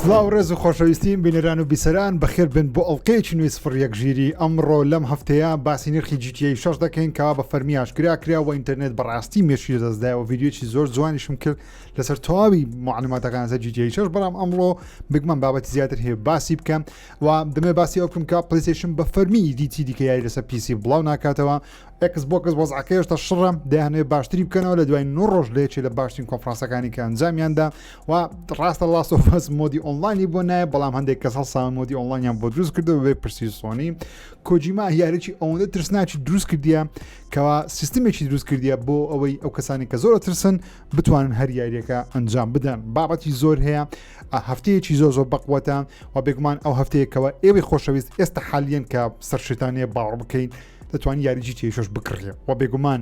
سلااو ڕێز و خۆشەویستیم بینەران و بیسەران بەخێر بن بۆ ئەڵلقەیەکی نوێی سفر یەک ژیری ئەمڕۆ لەم هەفتەیە باسی نرخی جیتیی شش دەکەین کەوا بە فەرمی ئاشکرا کرا و ئینتەرنێت بەڕاستی مێشی دەستدایەوە ویددیوی زۆر جوانیشم کرد لەسەر تەواوی معلوماتەکان زە جیتیی شش بەڵام ئەمڕۆ بگمەم بابەتی زیاتر هەیە باسی بکەم و دەمێ باسی ئەو بکەم کە پلیسیشن بە فەرمی دیتی دیکەیاری لەسەر پیسی بڵاو ناکاتەوە ئێکس بۆکس وەزعەکەی هێشتا شڕە دەیانەوێت باشتری بکەنەوە لە دوای نۆ ڕۆژ لە یەکێ لە باشترین کۆنفرانسەکانی کە ئەنجامیاندا و ڕاستە لاست ئۆف ئەس مۆدی ئۆنلاینی بۆ نایە بەڵام هەندێک کەس هەڵسان مۆدی ئۆنلاینیان بۆ دروست کردەوە بێ پرسی سۆنی کۆجیما یاریی ئەوەندە ترسناکی دروست کردیە کەوا سیستمێکی دروست کردیە بۆ ئەوەی ئەو کەسانی کە زۆر ترسن بتوانن هەر یاریەکە ئەنجام بدەن بابەتی زۆر هەیە هەفتەیەکی زۆر زۆر بەقوەتە و بێگومان ئەو هەفتەیەکەوە ئێوەی خۆشەویست ئێستا حالیان کە سەرشتانەیە باوەڕ بکەین دەتوانانی یاری جی تێشش بکڕێ و بێگومان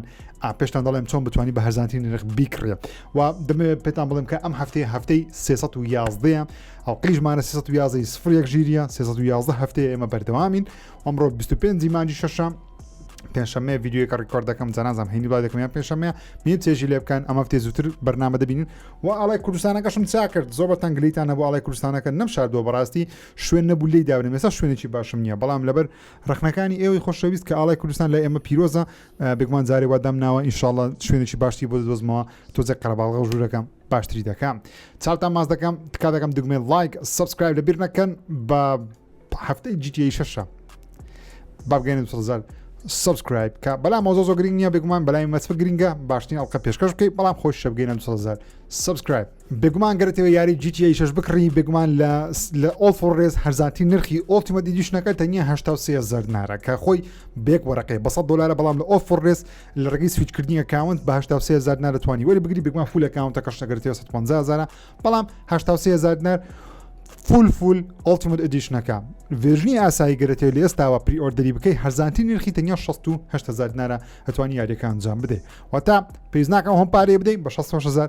پێشتان دەڵێم چۆن بتوانانی بە هەزانترین نرخ بیکڕێ و دەمێ پێتان بڵێم کە ئەم هەفتەیە هەفتەی 311 ئەو قیژمانە 311 سفر یەک ژیریە 311 هەفتەیە ئێمە بەردەوامین ئەمڕۆ 25 مانجی شەشەم پێنجشەممە یددیوەکە ڕیکۆرد دەکەم جەنازم هەینی با دەکەمیان پێنجشەممە من تێژی لێ بکەن ئەمە تێ زووتر بەرنامە دەبین و ئاڵای کوردستانەکەشم چا کرد زۆر بە تەنگلیتان نەبوو ئاڵای کوردستانەکە نەم شاردووە بەڕاستی شوێن نەبوو لی داونێ مێستا شوێنێکی باشم نییە بەڵام لەبەر ڕەخنەکانی ئێوەی خۆشەویست کە ئاڵای کوردستان لای ئێمە پیرۆزە بێگومان جارێ وا دامناوە ئینشاڵڵا شوێنێکی باشتری بۆ دەدۆزمەوە تۆزێک قەرەباڵغە و ژوورەکەم باشتری دەکەم چاوتان ماز دەکەم تکا دەکەم دگمێن لایک سبسکرایب لە بیر نەکەن بە هەفتەی جیتی شەشە بابگەێن سەزار سبسکرایب کە بەلا مۆزۆ زۆ گرنگ نییە بێگومان بەلای مەسفر گرنگە باشترین ئەڵلقە پێشکەش بکەیت بەڵام خۆش شەبگەێن سەزار سبسکرایب بێگومان گەر تەوێ یاری جی تی ئەی شەش بکڕی بێگومان لە لە ئۆڵ فۆر ڕێز هەرزانترین نرخی ئۆڵتیمەت ئیدیشنەکە تەنیا هەشتا و سێ هەزار دینارە کە خۆی بە یەک وەرەقەی بە سەد دۆلارە بەڵام لە ئۆڵ فۆر ڕێز لە ڕێگەی سویچکردنی ئەکاونت بە هەشتا و سێ هەزار دینار دەتوانی وەری بگری بێگومان فول ئەکاونتەکەش ئەگەر تەوێ سەد و پەنجا هەزارە بەڵام هەشتا و سێ هەزار دینار فول فول ئۆڵتیمەت ئیدیشنەکە ڤێژنی ئاسایی گەرەتێ لە ئێستاوە پری ئۆردەری بکەی هەرزانتی نرخی تەنیا 16 هزار دینارە ئەتوانی یاریەکە ئەنجام بدەیت واتە پێیز ناکەم هەم پارەی بدەین بە 16 هزار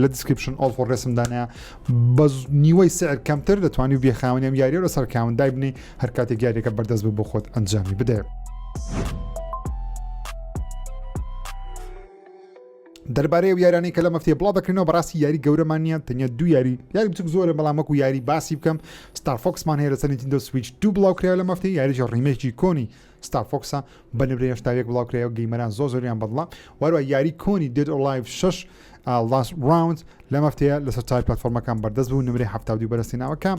لە دیسکریپشن ئۆڵ فۆر ڕێسم دانایا بە نیوەی سعر کەمتر دەتوانانی و بێ خاوەنی ئەم یاریە لەسەر کاون دایبنی هەر کاتێک یاریەکە بەردەست بوو بۆ خۆت ئەنجامی بدە. دەربارەی و یارانی کە لە مەفتێ بڵا دەکرینەوە بەڕاستی یاری گەورەمان نیە تەنیا دو یاری یاری بچک زۆرە بەڵامەک و یاری باسی بکەم ستارفۆکسمان هەیە لە سەرنتی دە سویچ دوو بڵاو کرا لە مەفتی یاریش ڕیمێکی کۆنی ستار فۆکسە بە نمرە هێشتا یەک بڵاو کرایەوە گەیمەران زۆر زۆریان بەدڵە واروا یاری کۆنی دێد ئۆڵایڤ 6 لاس ڕاوند لەم هەفتەیە لەسەر چای پلتفۆرمەکان بەردەست بوو نمرەی هەفتا دوو بەرەستی ناوەکە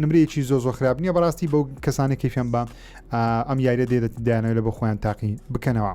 نمرەیەکی زۆ زۆ خراپ نییە بەڕاستی بەو کەسانی کەفیان بە ئەم یاریە دێت دایانەوە لە بۆ خۆیان تاقی بکەنەوە.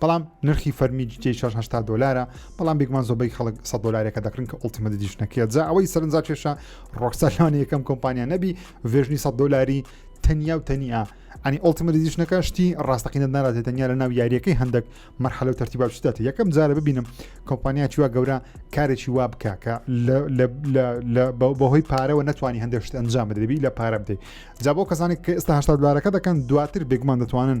بەڵام نرخی فەرمی جوتیەی شەش هەشتا دۆلارە بەڵام بێگومان زۆبەی خەڵک سە دۆلارێکە دەکرن کە ئۆڵتیمە دیشنەکەیە جا ئەوەی سەرنجا کێشە ڕۆکسەلانی یەکەم کۆمپانیا نەبی ڤێژنی سە دۆلاری تەنیا و تەنیا ئەنی ئۆڵتیمە دیشنەکە شتی ڕاستەقینە ناراتێت تەنیا لە ناو یاریەکەی هەندێک مەرحەلە و تەرتیبا شتێت یەکەم جارە ببینم کۆمپانیا چوە گەورە کارێکی وا بکە کە بەهۆی پارەوە نتوانانی هەندێک شت ئەنجام بدەبی لە پارە بدەیت جا بۆ کەسانی کە ئێستا هشتا دلارەکە دەکەن دواتر بێگومان دەتوانن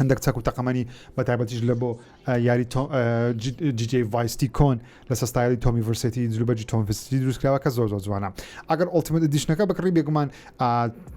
هەندێک چەک و تەقەمەنی بە تایبەتیش لە بۆ یاری جیجی ڤایستی کۆن لە سستایلی تۆمی ڤرسێتی جلوبەجی تۆم فستی دروستکراوە کە زۆر زۆر جوانە ئەگەر ئۆلتیمت دیشنەکە بکڕی بێگومان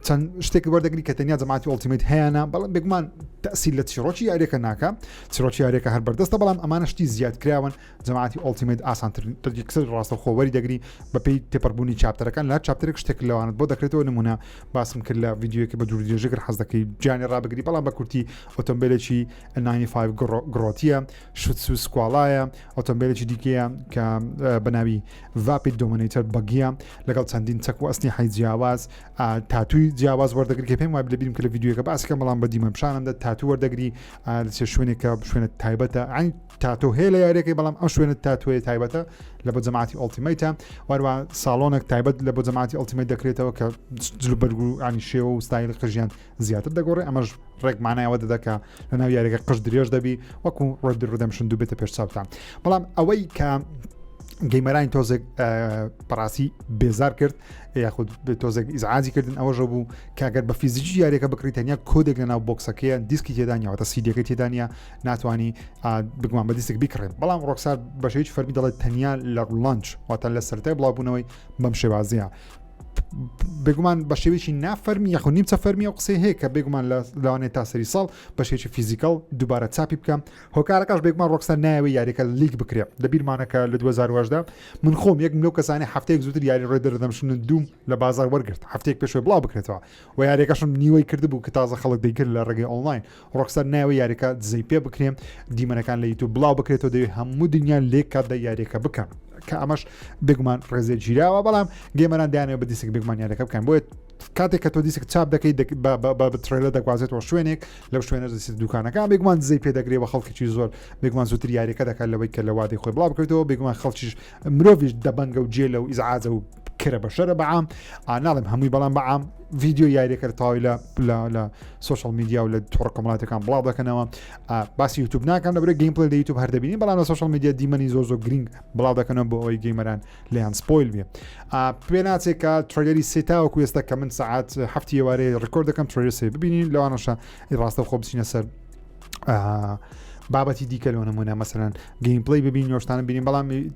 چەند شتێک وەردەگری کە تەنیا جەماتی ئۆلتیمت هەیەە بەڵام بێگومان تەسی لە چیرۆکی یاریەکە ناکە چیرۆکی یاریەکە هەر بەردەستە بەڵام ئەمانە شتی زیادکراون جەماعەتی ئۆڵتیمەیت ئاسانترین ڕێگەکسەر ڕاستەوخۆ وەریدەگری بەپێی تێپەڕبوونی چاپتەرەکان لە هەر چاپتەرێک شتێک لەوانت بۆ دەکرێتەوە نموونە باسم کرد لە ڤیددیوەکە بە دوور درێژە گەر حەز دەکەی جیانی ڕابگری بەڵام بە کورتی ئۆتۆمبیلێکی 95 گڕۆ- گڕۆتیە شوتسو سکواڵایە ئۆتۆمبیلێکی دیکەیە کە اه، بە ناوی ڤاپیت دۆمینەیتەر بەگیە لەگەڵ چەندین چەک و ئەسنیحەی جیاواز اه، تاتووی جیاواز وەردەگری کە پێم وایە لەبیرم کە لە ڤیددیوەکە باسەکەم بەڵام بە دیمەن پیشانم دەد تاتوو وەردەگری اه، لە چێ شوێنێکە شوێنە تایبەتە یعنی تاتۆ هەیە لە یاریەکەی بەڵام ئەو شوێنە تاتوێ تایبەتە لە بۆ جەماعتی ئۆلتیمیتە واروا ساڵۆنێک تایبەت لە بۆ جەماعتی ئۆلتیمیت دەکرێتەوە کە جل بەرگو ینی شێوە و ستایلی قژیان زیاتر دەگۆڕێ ئەمەش ڕێکمانایەوە دەدەکە لە ناو یاریەکە قژ درێژ دەبی وەکو ڕدی ڕدەمشن دوو بێتە پێش چاوتان بەڵام ئەوەی کە گەیمەرانی تۆزێک پراسی بێزار کرد یاخود تۆزێک ئیزعازی کردن ئەوەژە بوو کاگەر بە فیزیکی یاریەکە بکری تەنیا کۆدێک لە ناو بۆکسەکەیە دیسکی تێدانیاوەتە سیدەکە تێدانە ناتوانی بگومان بە دیسک بیکڕێن بەڵام ڕۆکسار بەش هیچ فەرمی دەڵێت تەنیا لە ڕلانچ واتان لە سەرای بڵاوبوونەوەی بەم شێوازیە بێگومان بە شێوێکی نافەرمی یاخود نیمچە فەرمی و قسەی هەیە کە بێگومان لە لاوانێت تا سەری ساڵ بە شێکی فیزیکال دووبارە چاپی بکەم هۆکارەکەش بێگومان ڕۆکسەر ناوی یاریەکە لیک بکرێ لە بیرمانەکە لە 2010دا من خۆم یەک لەو کەسانی هەفتەیەک زووتر یاری ڕێ دەردەمشن دوم لە بازار وەرگرت هەفتێک پێشوە بڵاو بکرێتەوە و یاریەکەشم نیوەی کردبوو کە تازە خەڵک دەیکرد لە ڕێگەی ئۆنلاین ڕۆکستار نایەوە یاریەکە دزەی پێ بکرێن دیمەنەکان لە یوتوب بڵاو بکرێتەوە دەوێت هەموو دنیا لێک کات دە یاریەکە بکەن کە ئەمەش بێگومان ڕێزێ گیراوە بەڵام گەێمەران دایانەوە بە دیسک بێگومان یاریەکە بکەن بۆیە کاتێک کە تۆ دیسک چاپ دەکەی بەترێلە دەگوازێتەوە شوێنێک لەو شوێنە دەسی دوکانەکە بێگومان دزەی پێ دەگرێ بە خەڵکیی زۆر بێگومان زووتر یاریەکە دەکات لەوەی کە لە وادەی خۆی بڵاو بکرێتەوە بێگومان خەڵکیش مرۆڤش دەبنگە و جێ لە و ئیزعاجە و کرە بەشەرە بەعام ئاناڵم هەمووی بەڵام بەعام ڤیددیو یاریەکە تاوی لە لە سوۆشال میدیا و لە تۆڕ کۆمەڵاتەکان بڵاو دەکەنەوە باسی یوتوب ناکەم لە برە گەیم پلی لە یوتوب هەردەبینی بەڵام لە سوۆشال میدیا دیمەنی زۆر زۆر گرنگ بڵاو دەکەنەوە بۆ ئەوی گەیمەران لەیان سپۆیل بێ پێ ناچێکە ترلەری سێتاوە کوێستە کە من سعات هەفتی وارەیە ڕکۆرد دەکەم ترێ سێ ببینین لەوانەشە ڕاستە خۆ بچینە سەر بابەتی دیکە لەۆ نمونە مەسەرەن گەیم پلی ببین نۆشتانە بینین بەڵام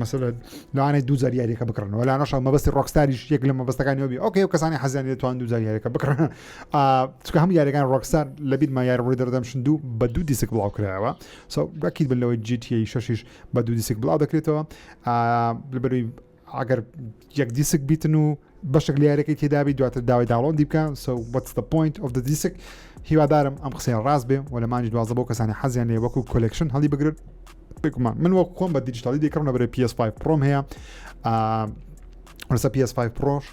مەسەلە لەوانەیە دوو جار یاریەکە بکڕن و لانەشە مەبەستی ڕۆکستاریش یەک لە مەبەستەکانی ئەوبی ئۆکەی و کەسانی حەزیان دەتوان دوو جار یاریەکە بکڕن چکە هەم یاریەکان ڕۆکستار لە بیرما یار ڕووی دەردەم شندو بە دوو دیسک بڵاو کرایەوە سەکیت بن لەوەی جیتی شەشیش بە دوو دیسک بڵاو دەکرێتەوە لەبەروی ئەگەر یەک دیسک بیتن و بەشێک لە یاریەکەی تێدابی دواتر داوای داڵۆندی بکە سو وەتس دە پوینت ئۆف دە دیسک هیوادارم ئەم قسەیە ڕاست بێ و لە مانجی دوازە بۆ کەسانی حەزیان لێ وەکو کۆلکشن هەڵی بگرن بگومان من وەک خۆم بە دیجیتالی دەکڕم لە بەرەی PS5 پرۆم هەیە ڕسە PS5 پرۆش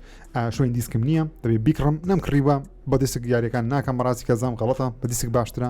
شوێن دیسکم نییە دەبێ بیکڕم نەم کڕیوە بە دیسک یاریەکان ناکەم ڕاستی کەزام غڵەتە بە دیسک باشترە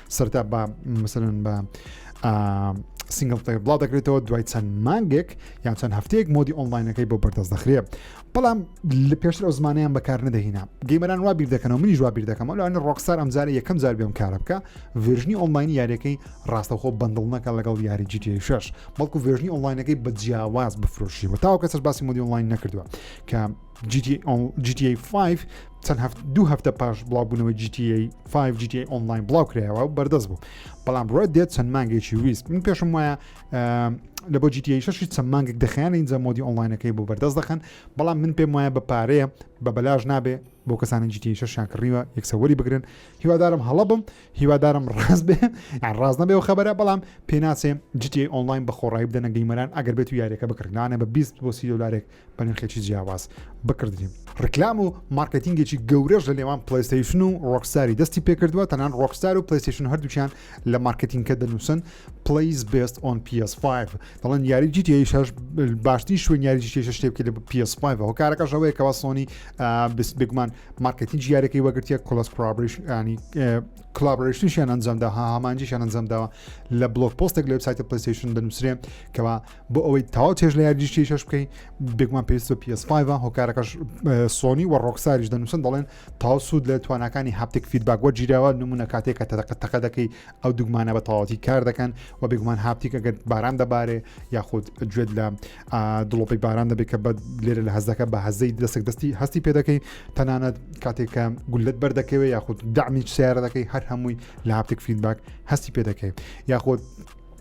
سەرتا بە مثلەن بە سنگل تەیر بڵاو دەکرێتەوە دوای چەند مانگێک یان چەند هەفتەیەک مۆدی ئۆنلاینەکەی بۆ بەردەست دەخرێ بەڵام لە پێشتر ئەو زمانیان بەکار نەدەهینا گەیمەران وا بیر دەکەنەوە منیش وا بیر دەکەم لەوانە ڕۆکسار ئەمجارە یەکەم جار بێم کارە بکە ڤێژنی ئۆنلاینی یاریەکەی ڕاستەخۆ بندڵ نەکە لەگەڵ یاری جیتی شش بەڵکو ڤێژنی ئۆنلاینەکەی بە جیاواز بفرۆشیەوە تاوکە سەر باسی مۆدی ئۆنلاین نەکردووە کە GTA 5 چەند دوو هەفتە پاش بڵاوبوونەوە GTA 5 GTA ئۆنلاین بڵاو کرایەوە و بەردەست بوو بەڵام ڕێت دێت چەند مانگێکی ویست من پێشم وایە لە بۆ GTA 6 چەند مانگێک دەخیان ئینجا مۆدی ئۆنلاینەکەی بۆ بەردەست دەخەن بەڵام من پێم وایە بە پارەیە بە بەلاش نابێ بۆ کەسانی GTA 6 شانکڕیوە یەکسەوەری بگرن هیوادارم هەڵە بم هیوادارم ڕاست بێ ڕاست نەبێ و خبرە بەڵام پێناسێ GTA ئۆنلاین بە خۆڕایی بدەنە گەیمەران ئەگەر بێت و یاریەکە بکردانە بە 20 بۆ سی دلارێک بە نرخێکی جیاواز بکڕدرێن. ڕیکلام و مارکێتینگێکی گەورەش لە نێوان پلەیستەیشن و ڕۆکستاری دەستی پێکردووە، تەنان ڕۆکستار و پلەیستەیشن هەردووکیان لە مارکێتینگەکە دەنووسن Plays Best on PS5 دەڵێن یاری جی تی ئەی شەش باشترین شوێن یاری جی تی شەش شتێ بکرێت لە PS5 هۆکارەکەش ئەوەیە کەوا سۆنی آه، بس- بێگومان مارکێتینگ یارەکەی وەگرتیە کۆلەس کۆلابریشنی کلابرشنیشیان ئەنجامدا ها هامانجیشان ئەنجامداوە لە بلۆک پۆستێک لە وبسایتە پلەیستەیشن دەنووسرێ کەوا بۆ ئەوەی تاو چێژ لە یاریشتی شش بکەین بێگومان پێویست بە PS5 هۆکارەکەش سۆنی و ڕۆکساریش دەنووسن دەڵێن تاو سوود لە توانەکانی هاپتێک فیدباک وە جیراوە نمونە کاتێکە تەدەقە تەقە دەکەی ئەو دوگمانە بە تەواتی کار دەکەن و بێگومان هاپتیک ئەگەر باران دەبارێ یاخود گوێت لە دڵۆپی باران دەبێت کە بە لێرە لە هەزەکە بە هەزەی دەستێک دەستی هەستی پێ دەکەی تەنانەت کاتێکە گولت بەردەکەوێ یاخود دامیچ سیارە دەکەی هەر هەمووی لە هاپتێک فیدباک هەستی پێ دەکەی یاخود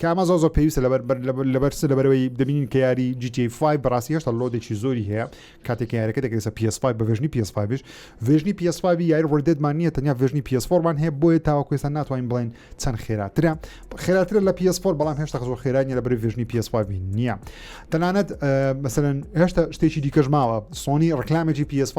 کە ئەمە زۆر زۆر پێویستە لەبەر بەر لەبەر لەبەر چ لەبەرەوەی دەبینین کە یاری GTA 5 بەڕاستی هێشتا لۆدێکی زۆری هەیە کاتێک کە یارەکە دەکرێت لەسەر PS5 بە ڤێژنی PS5 یش ڤێژنی PS5 یاری Red Dead مان نییە تەنیا ڤێژنی PS4 مان هەیە بۆیە تاوەکو ئێستا ناتوانین بڵێین چەند خێراترە خێراترە لە PS4 بەڵام هێشتا زۆر خێرا نیە لەبەر ڤێژنی PS5 نییە تەنانەت اه، مثلا هێشتا شتێکی دیکەش ماوە سۆنی ڕکلامێکی PS5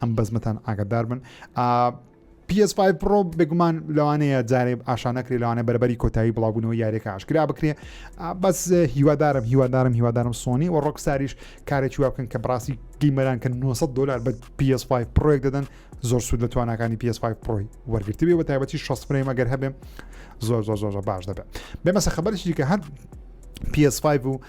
ئەم بەزمەتان ئاگدار بن PS5 پرۆ بێگومان لەوانەیە جارێ ئاشانەکرێ لەوانە بەربەری کۆتایی بڵاوبوونەوە یاریەکە ئاشکرا بکرێ بەس هیوادارم هیوادارم هیوادارم سۆنی و ڕۆکساریش کارێکی وا بکەن کە بڕاستی گەیمەران کە 900 دلار بە PS5 پرۆێک دەدەن زۆر سوود لە توانەکانی PS5 پرۆی وەرگرتبێ بە تایبەتی 6 فرەیمە گەر هەبێ زۆر زۆر زۆر باش دەبێت بێمەسە خبرشی کە هەر PS5 و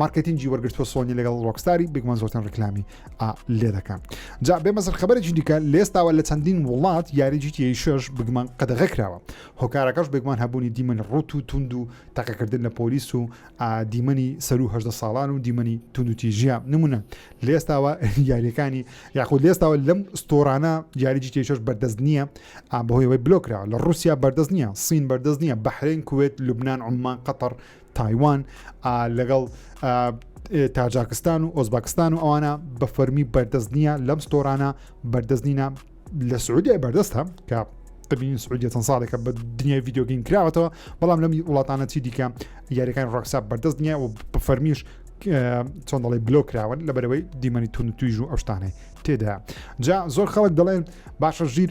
مارکێتینگی وەرگرتووە سۆنی لەگەڵ ڕۆکستاری بگمە زۆرترین ڕیکلامی ئا لێ دەکەن جا بێ مەزر خبرێکی دیکە لێستاوە لە چەندین وڵات یاری جیتی شش بگمان قەدەغە کراوە هۆکارەکەش بگمان هەبوونی دیمەنی ڕوت و توند و تەقەکردن لە پۆلیس و ئا دیمەنی سەرو هەدە ساڵان و دیمەنی توند و تیژە نمونە لێستاوە یاریەکانی یاخود لێستاوە لەم ستۆرانە یاری جیتی شش بەردەست نییە ئا بەهۆیەوەی بلۆکراوە لە رووسیا بەردەست نییە سین بەردەست نییە بەحرێن کوێت لوبناان عمان قەتەر تایوان لەگەڵ تاجاکستان و ئۆزباکستان و ئەوانە بە فەرمی بەردەست نییە لەم ستۆرانە بەردەست نینە لە سعودیای بەردەستە کە دەبینین سعودیە چەند ساڵێکە بە دنیای یددیوگەین کراوەتەوە بەڵام لەمی وڵاتانە چی دیکە یاریەکان ڕۆکسا بەردەست نییە و بە فەرمیش چۆن دەڵی بلۆ کراون لە بەرەوەی دیمەنی تون تویژ و ئەوشتانەی تێدا جا زۆر خەڵک دەڵێن باشە ژیر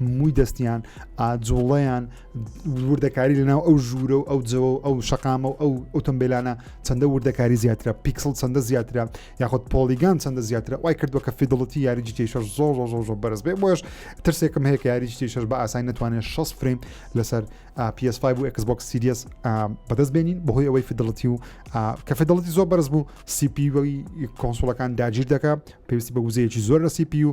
مووی دەستیان ئاجوڵەیان وردەکاری لەناو ئەو ژوورە و ئەو جەوە و ئەو شقامە و ئەو ئۆتۆمبیلانە چەندە وردەکاری زیاترە پیکسل چەندە زیاترە یاخود پۆلیگان چەندە زیاترە وای کردووە کە فیدڵەتی یاریجی تێشەر زۆر زۆر زۆر بەرز بێ بۆش ترسێکم هەیە یاریجی تێشەر بە ئاسای نتوانێت 6 فریم لەسەر PS5 و Xbox Series بەدەست بێنین بەهۆی ئەوەی فیدڵەتی و کە فیدڵەتی زۆر بەرز بوو سیپی وەی کۆنسۆلەکان داگیر دەکە پێویستی بە وزەیەکی زۆر لە سیپی و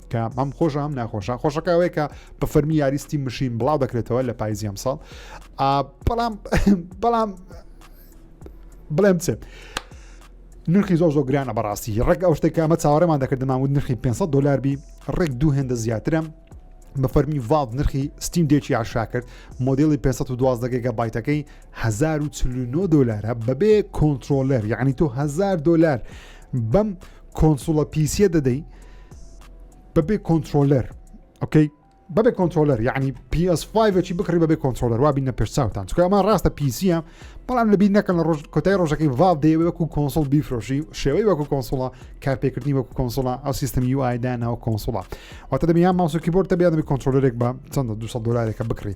کە ئەم خۆشە ئەم ناخۆشە خۆشەکە ئەوەیە کە بە فەرمی یاریستی مشین بڵاو دەکرێتەوە لە پایزی ئەم ساڵ بەڵام بەڵام بڵێم چێت نرخی زۆر زۆر گرانە بەڕاستی ڕێک ئەو شتێک ئەمە چاوەڕێمان دەکردمان و نرخی 500 دلار بی ڕێک دوو هێندە زیاترم بە فەرمی ڤاڵ نرخی ستیم دێکی عشا کرد مۆدلی 512 گەگە بایتەکەی 1940 دلارە بەبێ کۆنتترۆلەر یعنی تۆ 1000 دلار بەم کۆنسوڵە پیسە دەدەی بەبێ کۆنتترۆلەر ئۆکەی بەبێ کۆنتترۆلەر یعنی PS5ی بکڕی بەبێ کۆنتترۆلەر وابی نە پێشساوتان چکە ئەمە ڕاستە پیسیە بەڵام لە بیر نەکەن لە ڕۆژ کۆتای ڕۆژەکەی ڤاڵ دێ وەکو کۆنسۆل بیفرۆشی شێوەی وەکو کۆنسۆڵە کارپێکردنی وەکو کۆنسۆڵە ئەو سیستم یو ئایدا ناو کۆنسۆڵە واتە دەبیان ماسوکی بۆر دەبیان دەبی کۆنتترۆلەرێک بە چەندە 200 دلارێکە بکڕی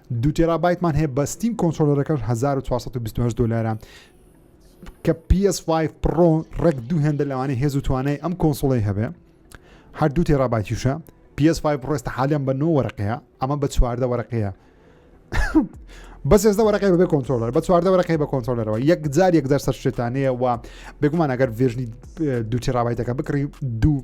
دوو تێرابایتمان هەیە بە ستیم کۆنترۆلەرەکەش 1428 دلارە کە PS5 پڕۆ ڕێک دوو هێندە لەوانەیە هێز و توانای ئەم کۆنسڵی هەبێ هەر دوو تێرابایتیشە PS5 ڕێستە حالیان بە نۆ وەرەقەیە ئەمە بە چواردە وەرەقەیە بەس ێزدە وەرەقی بەبێ کۆنتۆلەر بە چواردە وەرەقی بە کۆنتۆلەرەوە یەک جار یەک دەرسەر شێتانەیە و بێگومان ئەگەر ڤێژنی دوو تێرابایتەکە بکڕی دوو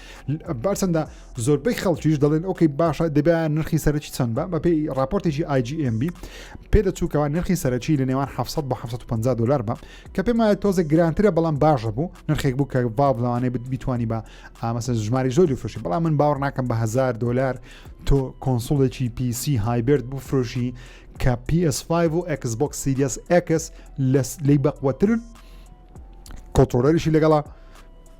بارچەندە زۆربەی خەڵکیش دەڵێن ئۆکەی باشە دەبێ نرخی سەرکی چەند بە بەپی راپۆرتێکی IGMB پێ دەچووکەوە نرخی سەرکی لە نێوان 700 بە 750 دلار بە کە پێم وایە تۆزە گرانترە بەڵام باشە بوو نرخێک بوو کە ڤاڵ لەوانەیە بیتوانی بە ئامەسە ژماری زۆری فرۆشی بەڵام من باوەڕ ناکەم بە هزار دلار تۆ کۆنسڵێکی PC هایبرد بوو فرۆشی کە PS5 و Xbox Series X لی بەقوەترن کۆنترۆلەریشی لەگەڵە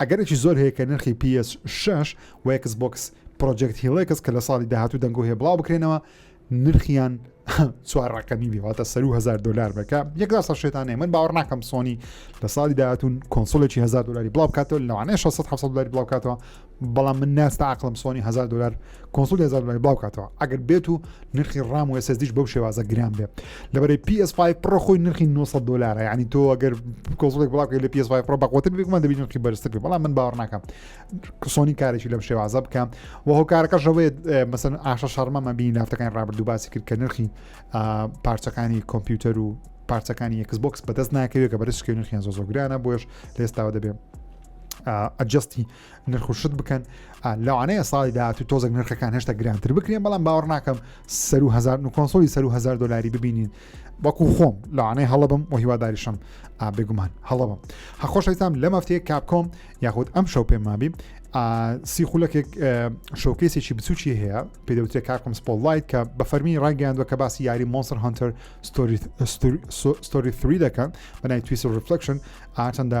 ئەگەرێکی زۆر هەیە کە نرخی پی ئێس شەش و ئێکس بۆکس پرۆجێکت هیڵێکس کە لە ساڵی داهاتوو دەنگۆ هەیە بڵاو بکرێنەوە نرخیان چوار ڕقەمی بێواتە سەر و هزار دلار بەکە یەکدا سە شێتانێ من باوەڕ ناکەم سۆنی لە ساڵی داهاتون کۆنسۆلێکی هزار دلاری بڵاو کاتەوە لەوانەیە 600 دلاری بڵاوکاتەوە بەڵام من ناستا عقلم سۆنی هزار دلار کۆنسوڵ هێزان بەڵێ بڵاو کاتەوە ئەگەر بێت و نرخی ڕام و SSDش بەو شێوازە گران بێت لەبەرەی PS5 پڕە خۆی نرخی 900 دلار ینی تۆ ئەگەر کۆزڵێک بڵاوکە لە PS5 پڕ بەقوتر بێکمان دەبی نرخی بەرزتر بێ بەڵام من باوەڕ ناکەم سۆنی کارێکی لەم شێوازە بکەم و هۆکارەکەشەوەی مەسن ئاشە شەرمەمە بینی لافتەکانی ڕابردوو باسی کرد کە نرخی پارچەکانی کۆمپیوتەر و پارچەکانی یەکس بۆکس بەدەست ناکەوێت کە بەرز شکێنرخیان زۆ زۆگرانە بۆش لە ئێستاوە دەبێت ئەجستی نرخ و شت بکەن لەوانەیە ساڵی داهاتوو تۆزێک نرخەکان هێشتا گرانتر بکرێن بەڵام باوەڕ ناکەم سەر و هزار و کۆنسۆلی سەر و هزار دلاری ببینین وەکو خۆم لەوانەیە هەڵبم و هیواداریشم بێگومان هەڵبم هەخۆشەویستام لە مەفتەیە کاپکۆم یاخود ئەم شەو پێمابی سی خولەکێک شۆکەیسێکی بچوکی هەیە پێدەوتێ کاکم سپۆلایت کە بە فەرمی ڕایگەیاندوە کە باسی یاری مۆنسر هەنتەر ستۆری 3 دەکەن بەنای تویس ڕفلکشن ئاچەندە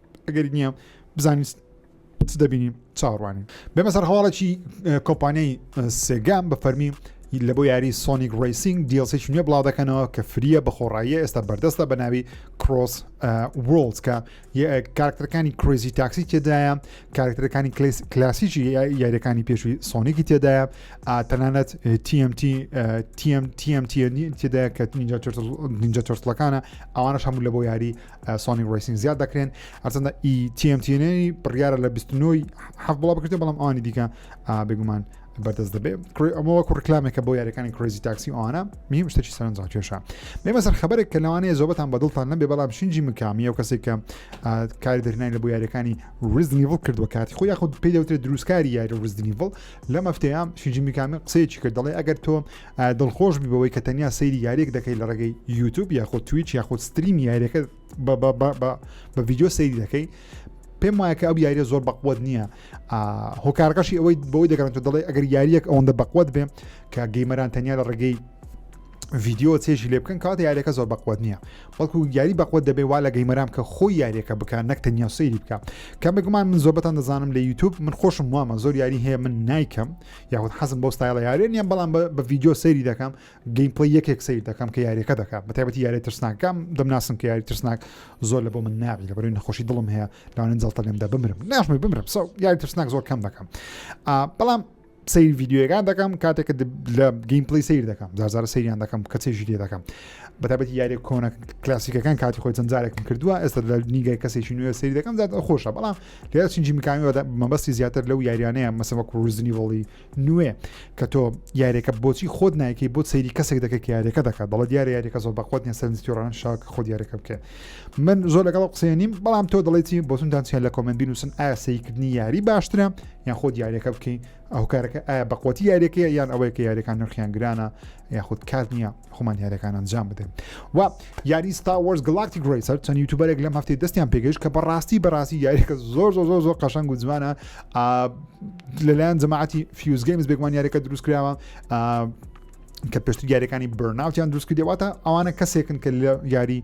ئەگەری نییە بزانین چ دەبینین چاڕوانین بێمە سەر هەواڵێکی کۆمپانیای سێگام بە فەرمی لە بۆ یاری سۆنیک ڕیسینگ دیڵسێکی نوێ بڵاو دەکەنەوە کە فریە بە خۆڕاییە ئێستا بەردەستە بە ناوی کرۆس وڵز کە کارکتەرەکانی کرۆزی تاکسی تێدایە کارکتەرەکانی کلاسیکی یاریەکانی پێشوی سۆنیکی تێدایە تەنانەت TMT TMT تێدایە کە نینجا تۆرتلەکانە ئەوانش هەموو لە بۆ یاری سۆنی ڕیسین زیاد دەکرێن هەرچەندە ئی تیMTNی بڕیارە لە 29 حەف بڵا بکرێت بەڵام ئەوانی دیکە بێگومان بەردەست دەبێت ئەمەوە کوڕکلامێکە بۆ یاریەکانی کرێزی تاکسی ئەوانە میم شتێکی سەرنجڕ کێشە بێمە سەر خبرێک کە لەوانەیە زۆبەتان بەدڵتان نەبێ بەڵام شنجی مکامی و کەسێک کە کاری دەرنای لە بۆ یاریەکانی ریزنیڤڵ کردووە کاتی خۆ یاخود پێی دەوترێت دروستکاری یاری ریزنیڤڵ لە مەفتەیە شنجی میکامی قسەیەکی کرد دەڵێ ئەگەر تۆ دڵخۆش بی بەوەی کە تەنیا سەیری یاریەک دەکەی لە ڕێگەی یوتوب یاخود تویچ یاخود ستریم یاریەکە بە ڤیددیو سەیری دەکەی پێم وایە کە ئەو یاریە زۆر بەقوت نییە هۆکارەکەشی ئەوەی بۆی دەگەڕن تۆ دەڵێ ئەگەر یاریەک ئەوەندە بەقوت بێ کە گەیمەران تەنیا لە ڕێگەی ڤیددیو چێژی لێ بکەن کات یاریەکە زۆر بەقوت نییە بەڵکو یاری بەقوت دەبێ وا لە گەیمەرام کە خۆی یاریەکە بکات نەک تەنیا سەیری بکە کەمێکمان من زۆبەتان دەزانم لە یوتوب من خۆشم وامە زۆر یاری هەیە من نیکەم یاخود حەزم بۆ ستایڵە یارێ نیە بەڵام بە ڤیددیو سەیری دەکەم گەیم پڵی یەکێک سیر دەکەم کە یاریەکە دەکات بە تایبەتی یاری ترسناکەم دەمناسم کە یاری ترسناک زۆر لە بۆ من ناوی لە بەروی نەخۆشی دڵم هەیە لاوانن جڵتە لێمدا بمرم ناشمی بمرم سە یاری ترسناک زۆر کەم دەکەم بەڵام سیر ڤیددیوەکان دەکەم کاتێک لە گەیم پلی سیر دەکەم زارزار سریان دەکەم کە چێژی لێ دەکەم بەتابەتی یاری کۆنە کلاسیکەکان کاتی خۆی جەنجارێکم کردووە ئێستا لە نیگای کەسێکی نوێ سری دەکەم زیاد خۆشە بەڵام لێرە چنجی میکامی بە مەبەستی زیاتر لەو یاریانەیە مەسە وەکو ڕزنیڤڵی نوێ کە تۆ یاریەکە بۆچی خۆت نایکەی بۆ سەیری کەسێک دەکەێت یاریەکە دەکات دەڵە دیارە یاریەکە زۆر بەخۆت نیە سەرنجتیڕان شاک خۆ دیارەکە بکە من زۆر لەگەڵ قسەیە نیم بەڵام تۆ دەڵێتی بۆتونتان چیان لە کۆمنت بینوسن ئایا سەیکردنی یاری باشترە یان خۆ دیارەکە بکەین ئەو کارەکە ئایا بەقوتی یاریەکەیە یان ئەوەیە کە یاریەکان نرخیان گرانە یاخود کار نییە خۆمان یاریەکان ئەنجام بدەین و یاری ستا وەرز گڵاکتی گرسەر چەند یوتوبەرێک لەم هەفتی دەستیان پێگەیش کە بەڕاستی بەڕاستی یاریەکە زۆر زۆر زۆر زۆر قەشنگ و جوانە لەلایەن جەماعتی فیوزگەیمز بێگومان یاریەکە دروست کراوە کە پێشتر یاریەکانی برناوتیان دروستکردێواتە ئەوانە کەسێکن کە لە یاری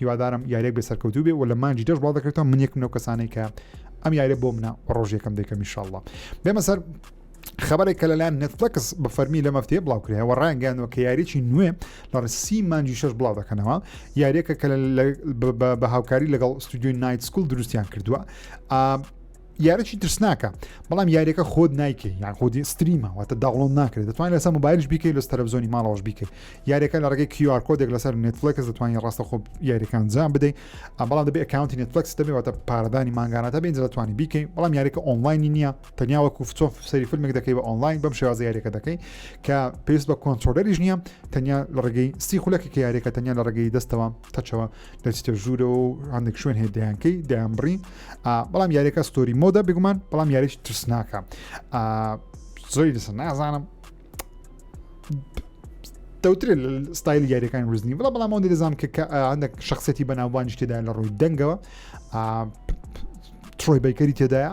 هیوادارم یاریەک بێ سەرکەوتوو بێ و لە مانگی دەش بڵاو دەکرێتەوە من یەکم لەو کەسانەی کە ئەم یاریە بۆ منە و ڕۆژ یەکەم دەکەم میشله بێمە سەر خبرێک کە لەلایەن نتفلکس بە فەرمی لە مەفتێ بڵاو کرایەوە ڕانگەیانەوە کە یاریی نوێ لە ڕسی مانجی شش بڵاو دەکەنەوە یاریەکە کە بە هاوکاری لەگەڵ ستودیۆی نایت سکول دروستیان کردووە یارەکی ترسناکە بەڵام یاریەکە خۆت نایکەی یان خۆدی ستریمە واتە داوڵۆن ناکرێت دەتوانین لەسەر موبایلش بیکەی لەس تەلەڤزۆنی ماڵەوەش بیکەی یاریەکە لە ڕێگەی کیار کۆدێک لەسەر نێتفلکس دەتوانین ڕاستە خۆ یاریەکان جام بدەیت بەڵام دەبێت ئەکاونتی نێتفلکس دەبێت واتە پارەدانی مانگاناتە بێن دەتوانانی بیکەی بەڵام یاریەکە ئۆنلاینی نییە تەنیا وەکو فتۆف سەری فیلمێک دەکەی بە ئۆنلاین بەم شێوازە یاریەکە دەکەی کە پێست بە کۆنتۆلەریش نییە تەنیا لە ڕێگەی سی خولەکە یاریەکە تەنیا لە ڕێگەی دەستەوە تەچەوە دەچتە ژوورەوە و هەندێک شوێن هەیە دەیانکەی دەیانبڕی بەڵام یاریەکە ستۆری مۆدا بگومان بەڵام یاریش ترسناکە زۆری لەسەر نازانم دەوتر ستایل یاریەکان وزنی بڵە بەڵام ئەو دەزانام کە هەندێک شخصێتی بەناوبانیش تێدا لە ڕووی دەنگەوە ترۆی بەیکەری تێدایە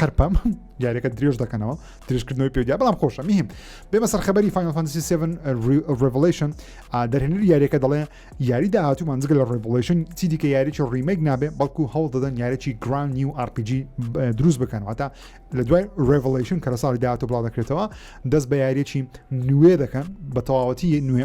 قەرپەم دیارەکە درێژ دەکەنەوە درێژکردنەوەی پێدیا بەڵام خۆشە میهم بێمە سەر خەبەری فانفانسی 7 ڕڤلیشن دەرهێنەر یاریەکە دەڵێ یاری داهاتوو مانزگە لە ڕڤلیشن چی دیکە یاریی ڕیمەک نابێ بەڵکو هەوڵ دەدەن یارێکی گران نیو RPG دروست بکەنەوەتا لە دوای ڕڤلیشن کە لە ساڵی داهاتوو بڵا دەکرێتەوە دەست بە یاریێکی نوێ دەکەن بە تەواوەتی نوێ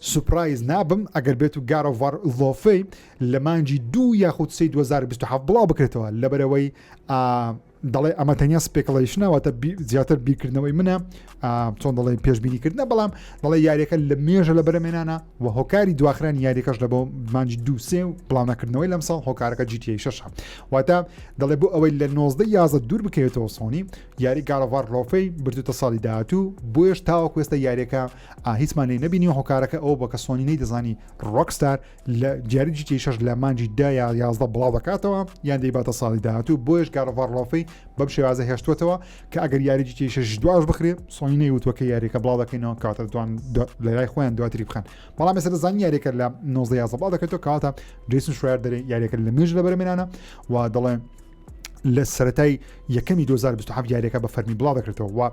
سوپرایز نابم ئەگەر بێت و گاد ئۆف وار ڵۆفی لە مانگی دوو یاخود سێی دوو هەزار و بیست و حەڤد بڵاو بکرێتەوە لەبەرئەوەی ئا دەڵێ ئەمە تەنیا سپێکڵەیشنە واتە بی زیاتر بیرکردنەوەی منە ئا چۆن دەڵێن پێشبینی کردنە بەڵام دەڵێ یاریەکە لە مێژە لە بەرەمێنانە و هۆکاری دواخرانی یاریەکەش لە بۆ مانگی دوو سێ و بڵاو نەکردنەوەی لەم ساڵ هۆکارەکە جی تی شەشە واتە دەڵێ بۆ ئەوەی لە نۆزدە یازە دوور بکەوێتەوە سۆنی یاری گارۆڤار ڵۆفی بردوتە ساڵی داهاتوو بۆیەش تاوەکو ئێستا یاریەکە ئا هیچمان لێی نەبینی و هۆکارەکە ئەوە بۆ کە سۆنی نەی دەزانی ڕۆکستار لە جاری جیتی شەش لە مانجی دا یا یازدە بڵاو دەکاتەوە یان دەیباتە ساڵی داهاتوو بۆیش گاڕڤڕۆفەی بەم شێوازە هێشتوتەوە کە ئەگەر یاری جیتی شەش دواش بخرێ سۆنی نەیوتوە کە یاریەکە بڵاو دەکەینەوە کاتە دوان لەلای خۆیان دواتری بخەن بەڵام ێستا دەزان یاریەکە لە 19 یازە بڵاو دەکەێتەوە کاتە جیسن شوێر دەێ یاریەکە لە مێژ لە بەرمێنانە و دەڵێن لە سەتای یەکەمی 2020 یاریەکە بە فەرمی بڵاو دەکرێتەوە و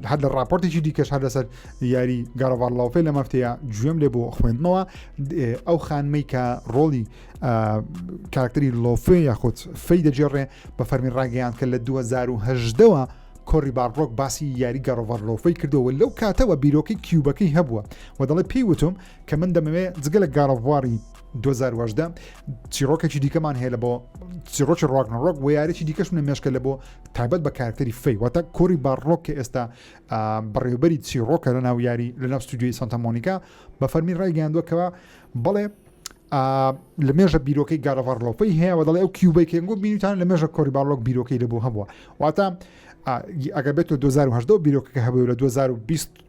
هەر لە راپۆرتێکی دیکەش هەر لەسەر یاری گاڕڤار لاوفێ لە مافتەیە گوێم لێ بۆ خوێندنەوە ئەو خانمەی کە ڕۆڵی کارکتری لۆفێ یاخود فەی دەجێڕێ بە فەرمی ڕاگەیان کە لە 2010ەوە کۆری باڕۆک باسی یاری گەڕۆڤەر لۆفەی کردەوە لەو کاتەوە بیرۆکەی کیوبەکەی هەبووە و دەڵێ پێی وتم کە من دەمەوێت جگە لە گاڕەڤواری 2018 چیڕۆکێکی دیکەمان هەیە لە بۆ چیڕۆکی ڕۆکنەڕۆک و یارێکی دیکەش منە مێشکە لە بۆ تایبەت بە کارکتەری فەی واتە کۆری باڕۆک کە ئێستا بەڕێوبەری چیڕۆکە لە ناو یاری لە ناو ستودیوی سانتەمۆنیکا بە فەرمی ڕایگەاندوەکەەوە بڵێ لە مێژە بیرۆکەی گارەڤڕلۆپەی هەیە و دەڵێ ئەو کیوبەی کەنگۆ بینیتان لە مێژە کۆری باڵۆک بیرۆکەی لە بۆ هەبووە واتە ئەگە بێت و 2010 بیرۆکەکە هەبوو لە 2020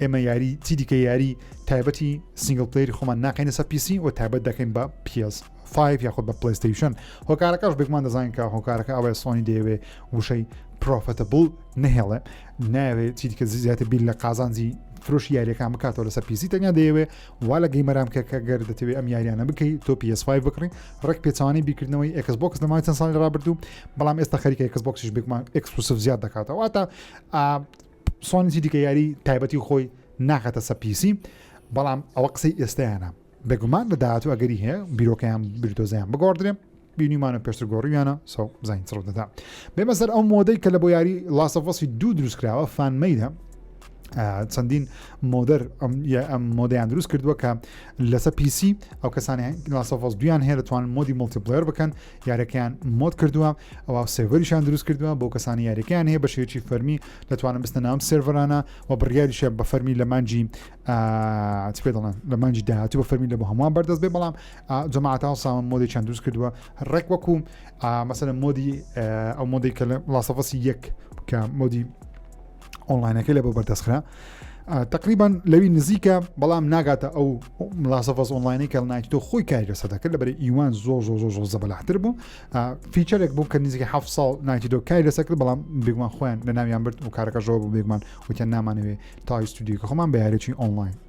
ئێمە یاری چی دیکە یاری تایبەتی سنگل پلیری خۆمان ناقینە سە پیسی و تابەت دەکەین بە پیس 5 یاخود بە پلیستیشن هۆکارەکەش بێکمان دەزانین کە هۆکارەکە ئەوەیە سۆنی دەیەوێ وشەی پرۆفەتە بڵ نهێڵێ ناوێت چی دیکە زیاتر بیر لە قازانجی فرۆشی یاریەکان بکاتەوە لەسەر پیسی تەنیا دەیەوێ وا لە گەیمەرام کە کە گەر دەتەوێت ئەم یاریانە بکەیت تۆ PS5 بکڕی ڕێک پێچوانی بیکردنەوەی ئەکس بۆکس لەمای چەند ساڵی ڕابردوو بەڵام ئێستا خەریکە ئەکس بۆکسش بێکمان ئەکسکلوسف زیاد دەکاتەوە واتا سۆنجی دیکە یاری تایبەتی خۆی ناخاتە سە پیسی بەڵام ئەوە قسەی ئێستیانە بێگومان لە داهاتوو ئەگەری هەیە بیرۆکەیان بیرتۆزیان بگۆڕدرێ بینیمانە پێشتر گۆڕیویانە سە زین چڕ دەدا بێمە سەر ئەو مۆدەی کە لە بۆ یاری لاسەفۆسی دوو دروستکراوە فانمەیدا چەندین مۆدەر ئەم مۆدەیان دروست کردووە کە لەسە پیسی ئەو کەسانی لاسەفۆس دویان هەیە دەتوانن مۆدی ملتیپلێر بکەن یارەکەیان مۆد کردووە ئەوە سێڤەریشان دروست کردووە بۆ کەسانی یاریەکەیان هەیە بە شێوەی فەرمی دەتوانم بستە ناوم سێڤەرانە و بڕیاریشە بە فەرمی لە مانجی پێ دەڵێن لە مانجی داهاتوو بە فەرمی لە بۆ هەمووان بەردەست بێ بەڵام جەماعتا و ساوان مۆدێکیان دروست کردووە ڕێک وەکو مەسەە مۆدی ئەو مۆدی کە لە ڵاسەفەسی یەک کە مۆدی ئۆنلاینەکەی لە بۆ بەردەستخرا تقریبان لەوی نزیکە بەڵام ناگاتە ئەو ملاسەفەز ئۆنلاینی کە نایتۆ خۆی کاریگەسە دەکرد لە بەری ئیوان زۆر زۆر زۆر زۆر زەبەلاحتر بوو فیچەرێک بوو کە نزیکە ه ساڵ نایتۆ کاری لەسە کرد بەڵام بێگومان خۆیان لە ناویان برد و کارەکەژەوە بوو بێگومان وتیان نامانەوێ تاویستودیوکە خۆمان بەیارێکی ئۆنلاین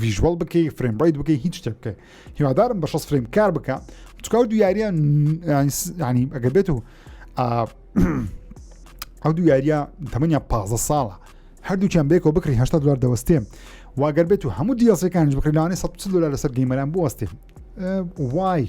ڤیژوەڵ بکەی فرێم ڕیت بکەی هیچ شتێک بکەی هیوادارم بە شەست فرێم کار بکە چکاو دو یاریە ینی ئەگەر بێت و ئەو دو یاریە تەمەنیا پ ساڵە هەردووچیان بێکەوە بکری هشتا دلار دەوەستێ واگەر بێت و هەموو دیاسەکانش بکرلانانی 100 دلار لەسەر گەیمەران بوەستێ وای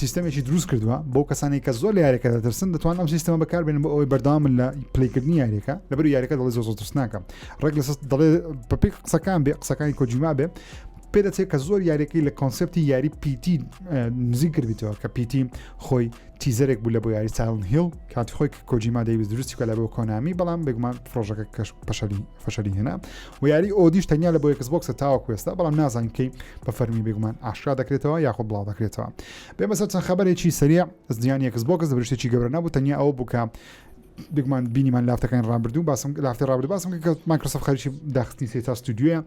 سیستەمێکی دروست کردووە بۆ کەسانی کە زۆر لە یاریەکە دەترسن دەتوان ئەم سیستەمە بەکاربێن بۆ ئەوەی بەرداوامن لە پلیکردنی یاریەکە لەبەر یاریەکە دەڵی زۆر ترسناکە ڕێک لە دەڵێ بەپی قسەکان بێ قسەکانی کۆجیما بێ پێ دەچێت کە زۆر یاریەکەی لە کۆنسپتی یاری پیتی نزیک کردیتەوە کە پیتی خۆی تیزەرێک بوو لە بۆ یاری ساڵن هیل کاتی خۆی کۆجیما دەیویست دروستی کە لە بۆ کۆنامی بەڵام بێگومان پرۆژەکە کەش پەشەلی فەشەلی هێنا و یاری ئۆدیش تەنیا لە بۆ یەکس بۆکسە تاوەکوێستا بەڵام نازانکەی بە فەرمی بێگومان ئاشکرا دەکرێتەوە یاخۆ بڵاو دەکرێتەوە بێ بەسەر چەند خەبەرێکی سەریع زیانی یەکس بۆکس دەبرشتێکی گەورە نەبوو تەنیا ئەوە بووکە بگومان بینیمان لافتەکان ڕابردوو باسم لافتی ڕابرد باسم کە مایکرۆسف خەریکی داخستنی سێ تا ستودیوە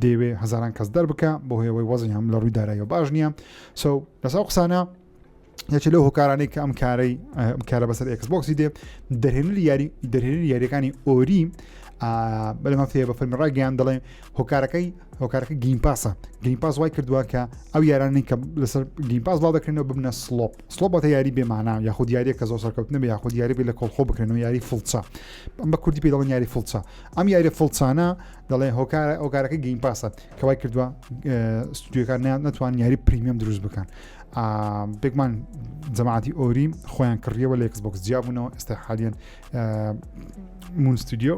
دەیەوێ هزاران کەس دەربکە بۆ هەیەوەی وەزی هەم لە ڕووی دارایەوە باش نییە سو لەسا قسانە یەکێ لەو هۆکارانەی کە ئەم کارەی ئەم کارە بەسەر ئەکس بۆکسی دێ دەرهێنری یاری دەرهێنری یاریەکانی ئۆری بەلەمە فێ بە فەرمی ڕاگەیان دەڵێ هۆکارەکەی هۆکارەکە گیم پاسە گیم پاس وای کردووە کە ئەو یارانی کە لەسەر گیم پاس بڵاو دەکرێنەوە ببنە سلۆپ سلۆبەتە یاری بێمانە یاخود یاریە کە زۆر سەرکەوتنە بە یاخود یاری بێ لە کۆڵخۆ بکرێنەوە یاری فڵچە ئەم بە کوردی پێ دەڵن یاری فڵچە ئەم یاری فڵچانە دەڵێ هۆکارە ئۆکارەکە گیم پاسە کەوای کردووە ستودیوەکان ناتوان یاری پریمیەم دروست بکەن بێگمان جەماعاتی ئۆری خۆیان کڕیەوە لە یکسبکس جیابوونەوە ئێستا حالیان مونستودیۆ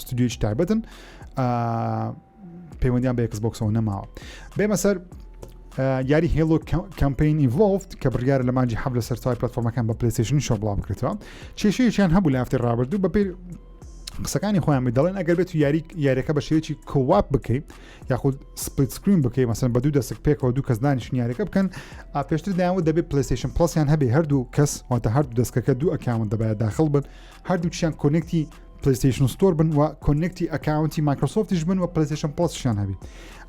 ستودیۆی تایبەتن پەیوەندیان بە یکسبکسەوە نەماوە بێمە سەر یاری هێڵۆ کەمپین ئیڤۆفت کە بڕیار لە ماجی حەب لە سەرای پلتفۆرمەکان بە پلیسیشن شۆ بڵام بکرێتەوە کێشەیەکیان هەبوو لە هەفتی ڕابردوو بەپی قسەکانی خۆیان دەڵێن ئەگەر بێت یاری یاریەکە بە شێوەیەکی کۆواپ بکەیت یاخود سپلیت سکرین بکەی مەسن بە دوو دەسک پێکەوە دوو کەس دانیشن یاریەکە بکەن پێشتر دایانەوە دەبێت پلیسیشن پلسیان هەبێ هەردوو کەس واتە هەردوو دەستکەکە دوو ئەکاون دەبایە داخل بن هەردووچیان کۆنێکتی پلیسیشن ستۆر بن و کۆنێکتی ئەکاونتی مایکرۆسۆفتیش بن و پلیسیشن پلسیان هەبی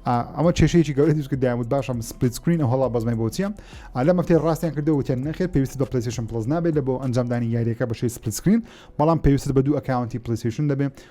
ئەمە کێشەیەکی گەورە دیسکە دامود باشم سپلیت سکرین و هەڵا بەزمای بۆچیە لە مەفتەی ڕاستیان کردەوە وتیان نەخێت پێویست بە پلیسیشن پلس نابێت لە بۆ ئەنجامدانی یاریەکە بەشی سپلیت سکرین بەڵام پێویست بە دوو ئەکاونتی پلیسیشن دەبێت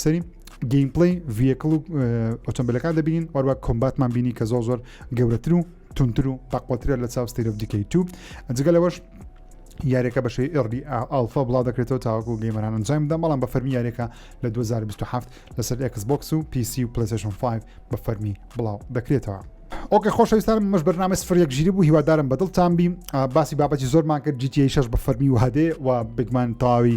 سەری گەیمپڵی ڤیەکڵ و ئۆتۆمبیلەکان دەبینین وەروە کۆمباتمان بینی کە زۆ زۆر گەورەتر و تونتر و پاقوترە لە چاو ستیرۆف دیکەی تو جگە لەوەش یاریەکە بەشەی ئێڕبی ئالفا بڵا دەکرێتەوە تاوەکو گەیمەران ئەنجام بدەم بەڵام بە فەرمی یاریەکە لە 2027 لەسەر ئەکس بۆکس و پیسی و پلیسشن 5 بە فەرمی بڵاو دەکرێتەوە. ئۆکە خۆشەویستان مەش بەرنامە سفرێک ژیری بوو هیوادارم بەدڵتان بی باسی بابەتی زۆرمان کرد جیتی شش بە فەرمی وهدێ و بگمان تەواوی